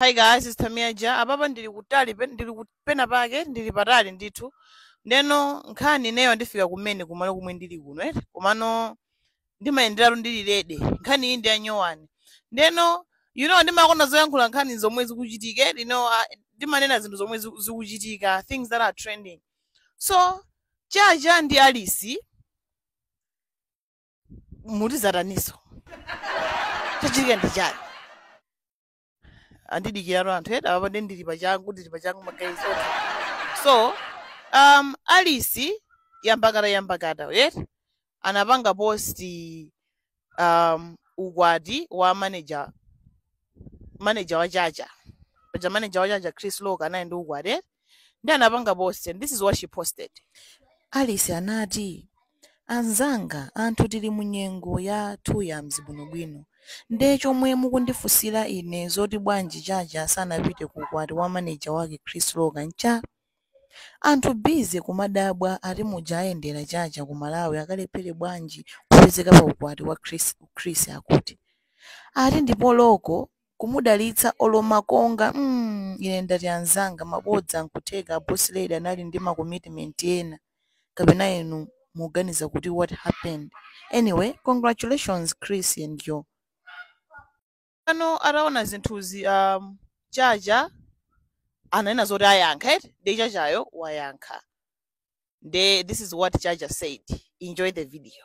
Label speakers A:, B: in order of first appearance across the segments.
A: Hi guys, it's Tamia Ja. Apapa ndili kutali pe- ndili ku- pena pake ndili patali ndithu. Ndeno nkhani ineyo ndifika kumene kumalo kumwe ndili kuno eti. Komano ndimayenderatu ndili lede. Nkhani iyi ndi yanyuwani. Ndeno you know ndimakonda zoyankhula nkhani zomwe zikuchitika eti. You know ah, ndimanena zinthu zomwe ziku- zikuchitika, things that are trending. So Chacha ndi Alice mutizataniso. Chachitika ndi chani? andidikiratu anthu eti apa ndi ndili pachangu ndili pachangu magayi so so um alice yambakata yambakata right anapanga post um ukwati wa manager manager wa chacha paja manager wa chacha chris loka anali ndi ukwati right? nde anapanga post and this is what she posted Alice anati, Anzanga, anthu tili mu nyengo ya two yams bwinobwino. Nde chomwe mukundifunsira ine zoti bwanji Chacha sanapite ku ukwati wa manager wake Chris Loka ncha? Anthu busy kumadabwa ati muja ayendera Chacha ku Malawi akalephere bwanji kupezeka pa ukwati wa Chris, Chris akuti. Ati ndipo Loko kumudalitsa olo makonga mm ine ndati anzanga mabodza nkutheka a boss lady anali ndi ma commitment ena kapena inu muganiza kuti what happened anyway congratulations chris and your ano ataona zinthuzi um, chacha ananena zoti ayankha eti nde chachayo wayankha nde this is what chacha said enjoy the video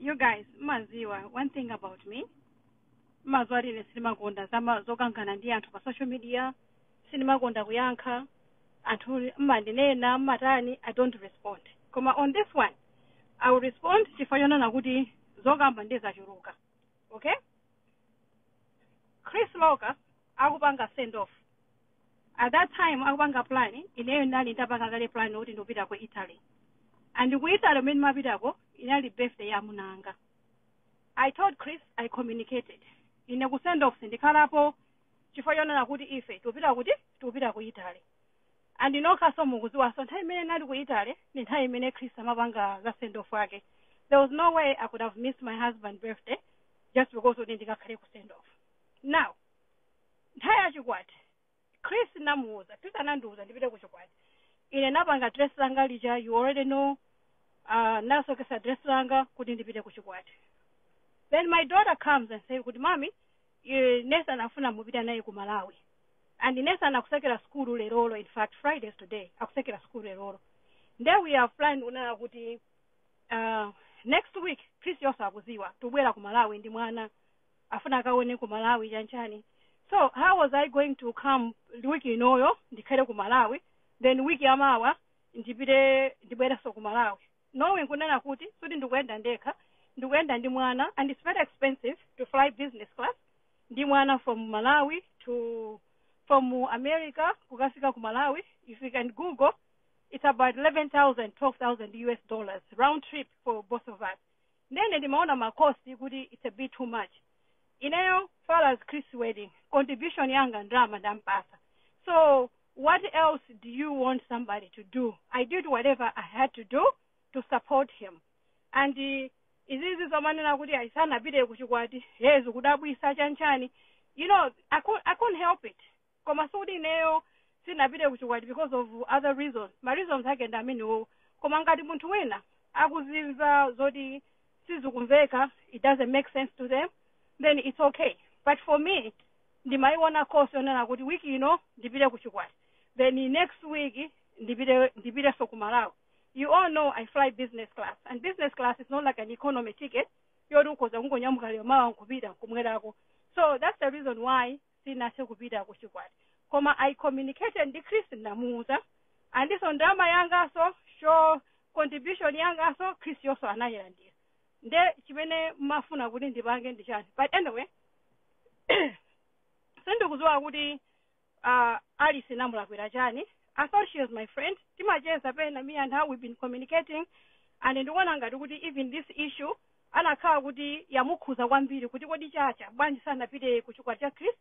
B: you guys mmaziwa one thing about me mmaziwa ine sindimakonda zama zokangana ndi anthu pa social media sindimakonda kuyankha anthu mmandinena mmatani i don't respond koma on this one i will respond chifukwa chonena kuti zokamba nde zachuluka okay chris loka akupanga send off at that time akupanga plan ineyo ndinali ndapanga kale plan kuti ndikupita ku italy and ku italy mmene mapitako inali birthday ya amuna anga i told chris i communicated ine ku send off sindikhalapo chifukwa chonena kuti ife tikupita kuti tikupita ku italy and nokhaso mukuziwaso nthawi imene ndinali ku italy ndi nthawi imene chris amapanga za send off ake there was no way i could have missed my husband birthday just because kuti ndikakhale ku send off now nthawi ya chikwati chris namuuza chris anandiuza ndipite ku chikwati ine napanga dress langa lija you already know uh, nasokesa dress langa kuti ndipite ku chikwati then my daughter comes and say kuti mami eh, nesa anafuna mupita naye ku malawi and nesa anakusekera skulu lerolo in fact friday is today akusekera skulu lerolo nde we are flying kunena kuti uh, next week chris yonse akuziwa tubwera ku malawi ndi mwana afuna akaone ku malawi chanchani so how was i going to come week inoyo ndikhale ku malawi then week yamawa ndipite ndibwerenso ku malawi knowing kunena kuti suti ndikuyenda ndekha ndikuyenda ndi mwana and it's very expensive to fly business class ndi mwana from malawi to from america kukafika ku malawi if you can google it's about 11000 12000 us dollars round trip for both of us ndiye ine ndimaona ma cost kuti it's a bit too much ineyo far as chris wedding contribution yanga ndalama ndampasa so what else do you want somebody to do i did whatever i had to do to support him and uh, izizi zomanena kuti ayisanapite kuchikwati yezu kudabwisa chanchani you know I couldn't, i couldn't help it koma sikuti ineyo sindinapite ku chikwati because of other reasons ma reasons ake ndi amenewowo koma ngati munthu wina akuziona zoti sizikumveka it doesn't make sense to them then it's okay but for me ndimayiona course yonena kuti wiki ino ndipite ku chikwati then next week ndipite ndipitenso ku malawi you all know i fly business class and business class is not like an economy ticket yoti ukhoza kungonyamuka lero mawa nkupita nkubwerako so that's the reason why sinathe kupita ku chikwati koma i communicated ndi chris ndinamuuza and ndiponso ndalama yanganso shower contribution yanganso chris-yonso anayilandira nde chimene mumafuna kuti ndipange ndi chani but anyway sindikudziwa kuti uh, alice namulakwira chani i thought she was my friend timacheza pena me and her we've been communicating and ndikuona ngati kuti even this issue anakhala kuti yamukhuza kwambiri kuti kodi chacha bwanji sanapite ku chikwati cha chris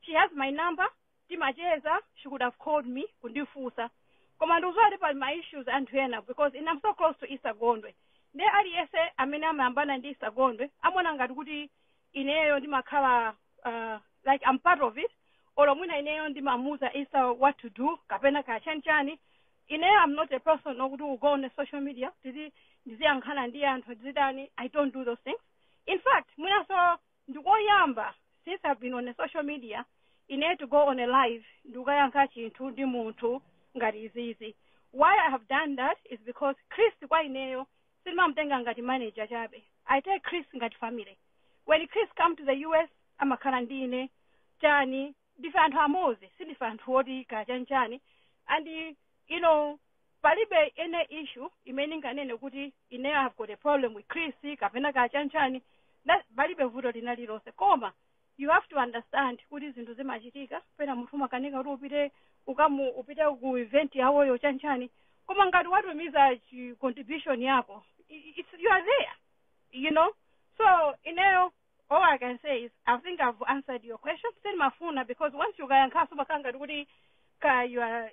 B: she has my number timacheza she could have called me kundifunsa koma ndikuziwa kuti pali ma issues anthu ena because i am so close to esther gondwe nde aliyense amene amayambana ndi esther gondwe amaona ngati kuti ineyo ndimakhala uh, like I'm part of it olo mwina ineyo ndimamuuza esther what to do kapena kaya chani chani ineyo I'm not a person woti will go on the social media ndiziyankhana ndi anthu ndizitani I don't do those things in fact mwinaso ndikoyamba since I've been on the social media ineyo to go on a live ndikukayankha chinthu ndi munthu ngati izizi why I have done that is because Chris kwa ineyo sindimamutenga ngati manager chabe i take chris ngati family when chris come to the us amakhala ndi ine chani ndife anthu amodzi sindife anthu oti kaya chani chani and you know palibe any issue imene ndinganene kuti ine have got a problem with chris kapena kaya chani chani That- palibe vuto lina lilonse koma you have to understand kuti zinthu zimachitika pena munthu umakanika kuti upite ukamu upite ku event yawoyo chanchani koma ngati watumiza contribution yako i- i- it's, you are there you know so ineyo all i can say is i think i've answered your question sindimafuna because once ukayankhaso umakhala ngati kuti ka you are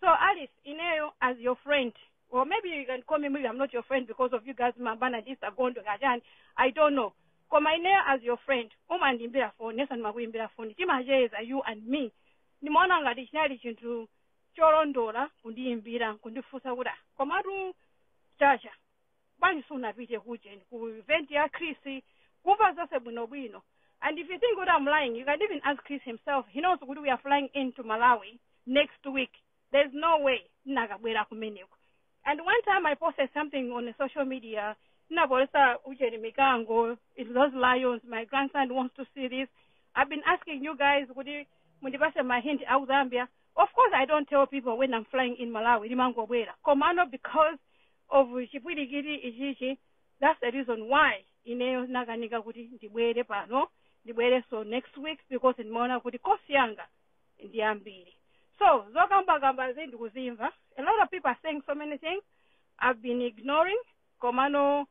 B: So Alice, ineyo as your friend, or maybe you can call me maybe I'm not your friend because of you guys mwabanana this agondo kaya chani, I don't know. Koma ineyo as your friend, umandiimbira phone, nenso ndimakuimbira phone, timacheza you and me. Ndimaona ngati chinali chinthu cholondola kundiimbira, kundifunsa kuti "Ah, komatu Chacha bwanji sunapite kujen ku event ya chris kumva zonse bwinobwino and if you think what i'm lying you can even ask chris himself he knows kuti we are flying into malawi next week there's no way ndinakabwera kumeneko and one time i posted something on the social media ndinapolesa ujeni mikango it those lions my grandson wants to see this i've been asking you guys kuti mundipase my hint out zambia of course i don't tell people when i'm flying in malawi ndimangobwera komano because of chipwirikiti ichichi that's the reason why ineyo nakanika kuti ndibwere pano ndibwerenso next week because ndimaona kuti cost yanga ndi yambiri so zokambakambazi ndikuzimva a lot of people are saying so many things i've been ignoring komano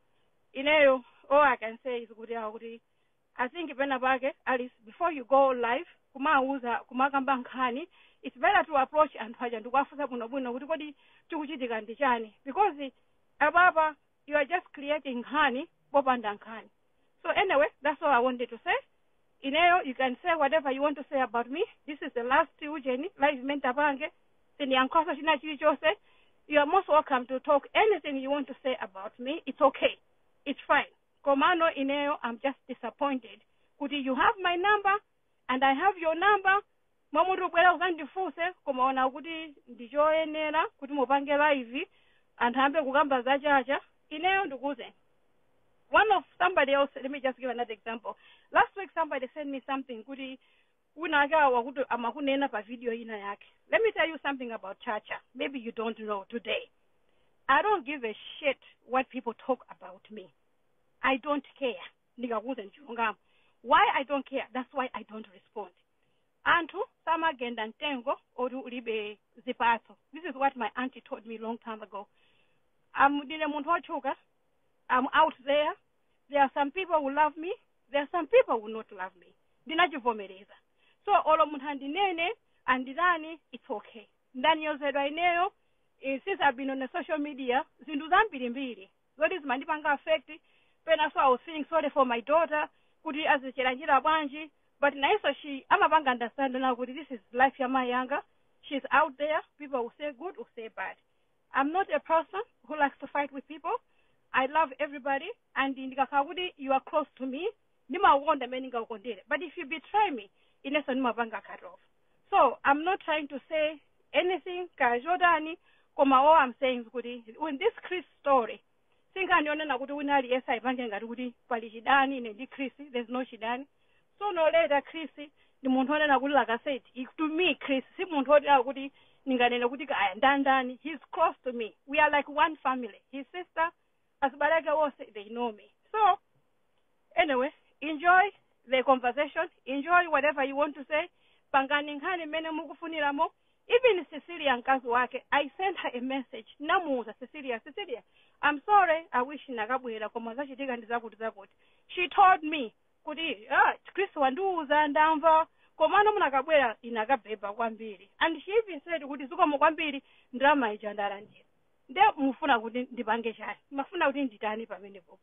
B: ineyo all i can say is kuti awa kuti i think pena pake alice before you go live kumawuza kumakamba nkhani its better to approach anthu aja ndikuwafunsa bwinobwino kuti kodi chikuchitika ndi chani because apapa you are just creating nkhani popanda nkhani so anyway that's all i wanted to say ineyo you can say whatever you want to say about me this is the last ujeni live mene ntapange sindiyankhanso china chilichonse you are most welcome to talk anything you want to say about me it's okay it's fine komano ineyo am just disappointed kuti you have my number and i have your number mmalo moti ubwere uzandifunse kumaona kuti ndichoyenera kuti mupange live anthu ayambe kukamba za Chacha ineyo ndikuuze one of somebody else let me just give another example last week somebody sent me something kuti wina ake awo akuti amakunena pa video ina yake let me tell you something about chacha maybe you don't know today i don't give a shit what people talk about me i don't care ndikakuuza ndichilungamo why i don't care that's why i don't respond anthu samagenda mtengo oti ulibe zipatso this is what my auntie told me long time ago amudine munthu otchuka i'm out there there are some people who love me there are some people who will not love me ndinachivomereza so olo munthu andinene anditani it's okay ndanyozedwa ineyo eh, since i've been on the social media zinthu zambirimbiri zoti zimandipanga affect penanso i was feeling sorry for my daughter kuti azichilandira bwanji but nayenso she amapanga understand now kuti this is life ya mayi anga she's out there people will say good will say bad I'm not a person who likes to fight with people. I love everybody and ndikakhala kuti you are close to me ndimakukonda mmene ndingakukondere but if you betray me inenso ndimapanga cut off so i'm not trying to say anything kaya chotani koma all i'm saying is kuti in this chris story sinkhani yonena kuti wina aliyense ayipange ngati kuti pali chidani ine ndi chris there's no chidani sooner or later chris ndi munthu onena kuti like i said he- to me chris si munthu wonena kuti ndinganene kuti kaya ndandani he's close to me we are like one family his sister azibale ake onse they know me so anyway enjoy the conversation enjoy whatever you want to say pangani nkhani mmene mukufuniramo even cecilia mkazi wake i sent her a message namuuza cecilia cecilia i'm sorry i wish nakabwera koma zachitika ndi zakuti zakuti she told me kuti ah, chris wandiuza ndamva komano munakabwera inakabeba kwambiri and she even said kuti zikomo kwambiri ndalama ija ndalandira nde mufuna kuti ndipange chani mafuna kuti nditani pamenepopo